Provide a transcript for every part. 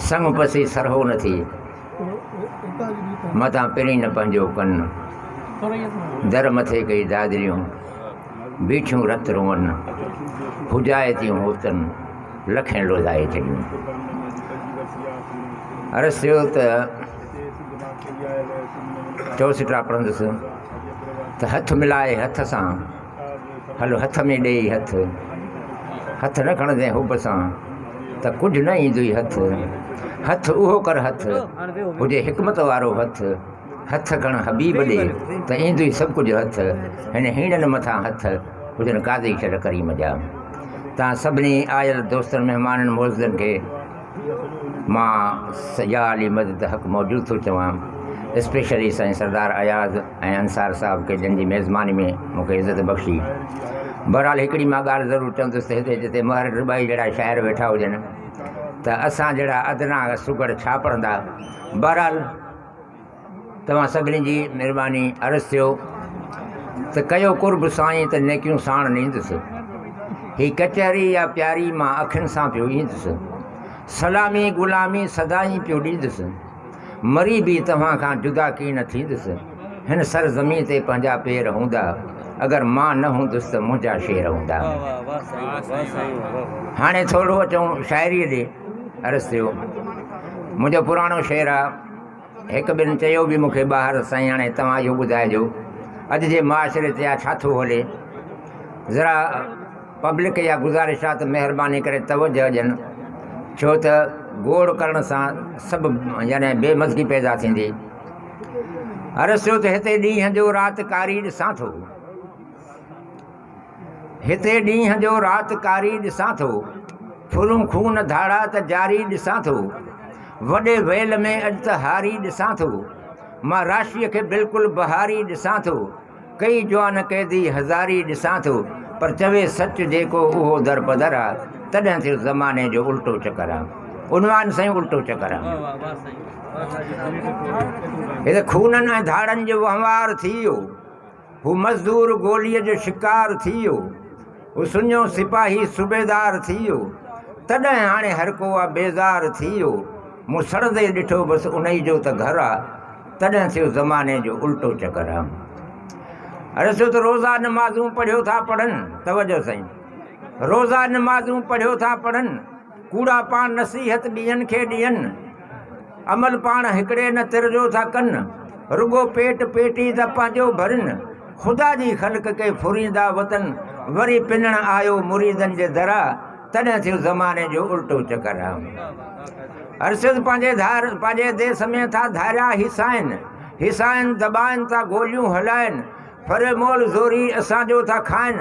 سڱ پسي سرهو نه ٿئي، متان پرين نه پنهنجو ڪن، در مٿي ڪئي دادريون، بيٺيون رت روئن، هجائي تيون هوتن، لکين لوڌائي ڇڏيون. عرض ٿيو ته چوسٽا پڙهندس ته هٿ ملائي هٿ سان هل هٿ ۾ ڏيئي هٿ. هٿ نه کڻندين حب سان ته ڪجهه نه ايندئي هٿ. هٿ اهو ڪر هٿ هجي حڪمت وارو هٿ. هٿ کڻ حبيب ڏي ته ايندئي سڀ ڪجهه هٿ. هن هيڻن مٿان هٿ هجن قاضي شرع ڪريم جا. تان سڀني آيل دوستن مهمانن معززن کي مان سڄا علي مدد حق موجود ٿو چوان اسپيشلي سائين سردار اياز ۽ انصار صاحب کي جن جي ميزباني ۾ مون کي عزت بخشي بھرحال ھڪڙي مان ڳالھ ضرور چوندس ته ھتي جتي مھر ڊٻائي جھڙا شاعر ويٺا ھجن ته اسان جھڙا ادنا سگھڙ ڇا پڙھندا بھرحال توهان سڀني جي مھرباني عرض ٿيو ته ڪيو قرب سائين ته نيڪيون ساڻ نيندس هي ڪچهري يا پياري مان اکين سان پيو ايندس سلامي غلامي سدائين پيو ڏيندس مري به توهان کان جدا ڪي نه ٿيندس هن سر زمين تي پنهنجا پير هوندا اگر مان نه هوندس ته منهنجا شير هوندا هاڻي ٿورو اچون شاعري ڏي عرض ٿيو منهنجو پراڻو شعر آ هڪ ٻن چيو به مون کي ٻاهر سائين هاڻي توهان اهو ٻڌائجو اڄ جي معاشري تي آ ڇا ٿو هلي ذرا پبلڪ يا گذارش آ ته مهرباني ڪري توجه ڏين ڇو ته گوڙ ڪرڻ سان سڀ يعني بي مزگي پيدا ٿيندي عرض ٿيو ته هتي ڏينهن جو رات ڪاري ڏسان ٿو. هتي ڏينهن جو رات ڪاري ڏسان ٿو، ڦرون خون ڌاڙا ته جاري ڏسان ٿو، وڏي ويل ۾ اڄ ته هاري ڏسان ٿو، مان راشيء کي بلڪل بهاري ڏسان ٿو، ڪيئي جوان قيدي هزاري ڏسان ٿو، پر چوي سچ جيڪو اهو درپدر آ، تڏهن ٿيو زماني جو الٽو چڪر آ. عنوان سائين الٽو چڪر آ. هتي خونن ۽ ڌاڙن جو وهنوار ٿي ويو. هو مزدور گوليء جو شڪار ٿي ويو، هو سڃو سپاهي صوبيدار ٿي ويو، تڏهن هاڻي هر ڪو آ بيزار ٿي ويو، مون سڙندي ڏٺو بس انهي جو ته گهر آ، تڏهن ٿيو زماني جو الٽو چڪر آ. عرض ٿيو ته روزا نمازون پڙهيو ٿا پڙهن، توجه سائين، روزا نمازون پڙهيو ٿا پڙهن، ڪوڙا پاڻ نصيحت ٻين کي ڏين، عمل پاڻ هڪڙي نه تر جو ٿا ڪن، رڳو پيٽ پيٽي ٿا پنهنجو ڀرين، خدا جي خلق کي ڦريندا وتن، وري پنڻ آيو مريدن جي درا، تڏهن ٿيو زماني جو الٽو چڪر. ارشد پنهنجي ڌار پنهنجي ديس ۾ ٿا ڌاريا هيسائين، هيسائين دٻائن ٿا گوليون هلائين، ڦري مول زوري اسان جو ٿا کائين،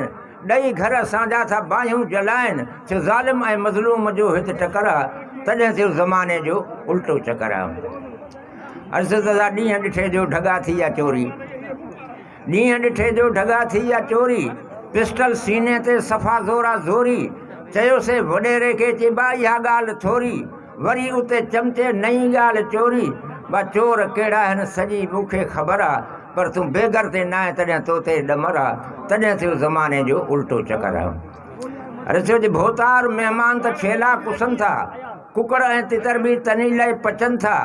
ڏئي گهر اسان جا ٿا باهيون جلائين ٿيو ظالم ۽ مظلوم جو هت ٽڪر آ تڏهن ٿيو زماني جو الٽو چڪر آ عرض دادا ڏينهن ڏٺي جو ڍڳا ٿي يا چوري ڏينهن ڏٺي جو ڍڳا ٿي يا چوري پسٽل سيني تي صفا زورا زوري چيو سي وڏيري کي چيبا اها ڳالهه ٿوري وري اتي چمچي نئين ڳالهه چوري وا چور ڪهڙا هن سڄي مون کي خبر آ پر تون بيگر تي ناهين تڏهن تو تي ڏمر آ تڏهن ٿيو زماني جو الٽو چڪر آ اري ڇو جي ڀوتار مهمان ته ڇيلا ڪسن ٿا ڪڪڙ ۽ تتر به تني لئي پچن ٿا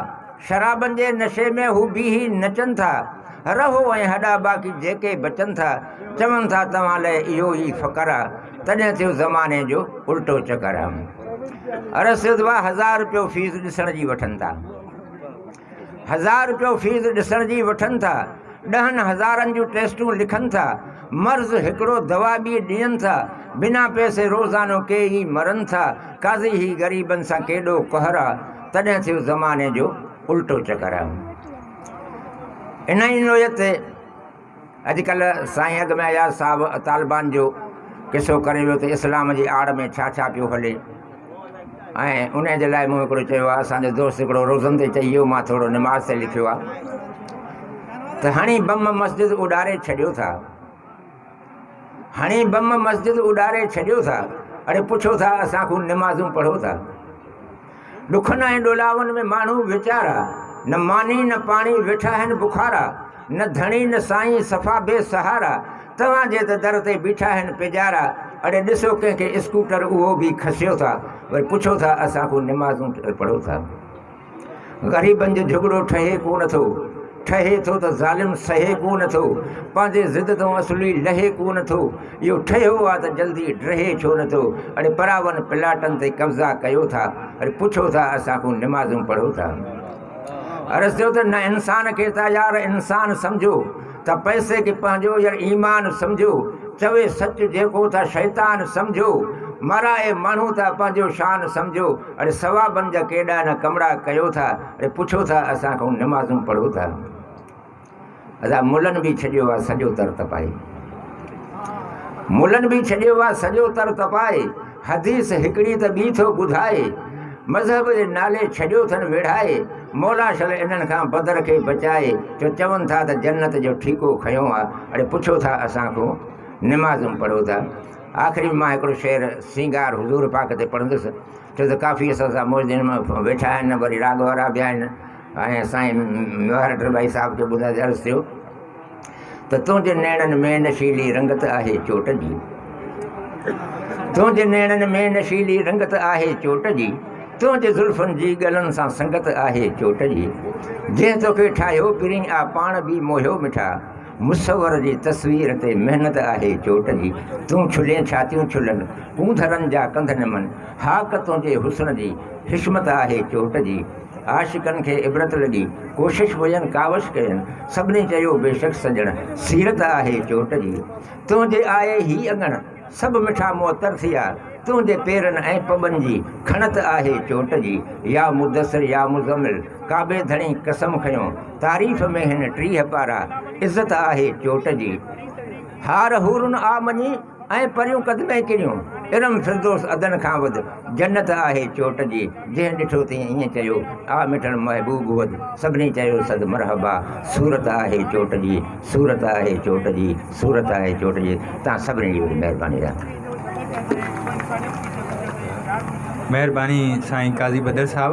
شرابن جي نشي ۾ هو بيهي نچن ٿا رهو ۽ هڏا باقي جيڪي بچن ٿا چون ٿا توهان لئي اهو ئي فقر آ تڏهن ٿيو زماني جو الٽو چڪر هم ارس سيدوا هزار روپيو فيس ڏسڻ جي وٺن ٿا هزار روپيو فيس ڏسڻ جي وٺن ٿا ڏهن هزارن جون ٽيسٽون لکن ٿا مرض هڪڙو دوا ٻي ڏين ٿا بنا پيسي روزانو ڪي ئي مرن ٿا قاضي هي غريبن سان ڪيڏو قهر آ تڏهن ٿيو زماني جو الٽو چڪر آ انهي نوعيت اڄ ڪلهه سائين اڳ ۾ اياز صاحب طالبان جو قصو ڪري ويو ته اسلام جي آڙ ۾ ڇا ڇا پيو هلي ۽ ان جي لاء مون هڪڙو چيو آهي اسان جو دوست هڪڙو روزن تي چئي ويو مان ٿورو نماز تي لکيو آهي ته هڻي بم مسجد اڏاري ڇڏيو ٿا هڻي بم مسجد اڏاري ڇڏيو ٿا اڙي پڇو ٿا اسان کون نمازون پڙهو ٿا ڏکن ۽ ڏولاون ۾ ماڻهو ويچارا، نه ماني نه پاڻي ويٺا آهن بخارا، نه ڌڻي نه سائين صفا بي سهارا، توهان جي ته در تي بيٺا آهن پيڄارا، اڙي ڏسو ڪنهن کي اسڪوٽر اهو به کسيو ٿا، وري پڇو ٿا اسان کان نمازون پڙهو ٿا. غريبن جو جهڳڙو ٺهي ڪو نه ٿو، ٺهي ٿو ته ظالم سهي ڪو نه ٿو، پنهنجي ضد تان اصلي لهي ڪو نه ٿو، اهو ٺهيو آ ته جلدي ڊهي ڇو نه ٿو اڙي پراون پلاٽن تي قبضا ڪيو ٿا اڙي پڇو ٿا اسان کون نمازون پڙهو ٿا عرض ٿيو ته نه انسان کي ته يار انسان سمجهو ته پئسي کي پنهنجو يار ايمان سمجهو چوي سچ جيڪو ته شيطان سمجهو مرائي ماڻهو ته پنهنجو شان سمجهو اڙي ثوابن جا ڪيڏا نه ڪمڙا ڪيو ٿا اڙي پڇو ٿا اسان کون نمازون پڙهو ٿا. اسان ملن به ڇڏيو آ سڄو تر تپائي. ملن به ڇڏيو آ سڄو تر تپائي. حديث هڪڙي ته ٻي ٿو ٻڌائي. مذهب جي نالي ڇڏيو ٿن ويڙهائي. مولا شل انهن کان بدر کي بچائي. جو چون ٿا ته جنت جو ٺيڪو کنيو آ. اڙي پڇو ٿا اسان کون نمازون پڙهو ٿا. آخري ۾ مان هڪڙو شعر سينگار حضور پاڪ تي پڙهندس. ڇو ته ڪافي اسان سان موجدين ويٺا آهن وري راڳ وارا به آهن. ۽ سائين ميوهار ڊرٻائي صاحب کي ٻڌائي ته عرض ٿيو ته تنهنجي نيڻن ۾ نشيلي رنگت آهي چوٽ جي تنهنجي نيڻن ۾ نشيلي رنگت آهي چوٽ جي تنهنجي زلفن جي ڳلن سان سنگت آهي چوٽ جي جنهن توکي ٺاهيو پرين آ پاڻ به موهيو مٺا مصور جي تصوير تي محنت آهي چوٽ جي تون ڇلين ڇاتيون ڇلن ڪونڌرن جا ڪنڌ نمن هاڪ تنهنجي حسن جي حشمت آهي چوٽ جي عاشقن کي عبرت لڳي، ڪوشش هجن ڪاوش ڪين، سڀني چيو بيشڪ سڄڻ، سيرت آهي چوٽ جي، تنهنجي آهي هي اڱڻ، سڀ مٺا معطر ٿيا، تنهنجي پيرن ۽ پٻن جي، کڻت آهي چوٽ جي، يا مدثر يا مزمل، ڪعبي ڌڻي قسم کنيو، تعريف ۾ هن ٽيهه پارا، عزت آهي چوٽ جي، هار حورن آ مڃي، ۽ پريون قدمين ڪريون. ارم فردوس عدن کان وڌ، جنت آهي چوٽ جي، جنهن ڏٺو تنهن ائين چيو، آ مٺڙ محبوب وڌ، سڀني چيو صد مرحبا، صورت آهي چوٽ جي، صورت آهي چوٽ جي، صورت آهي چوٽ جي، توهان سڀني جي وڏي مهرباني رحمت. مهرباني سائين قاضي بدر صاحب.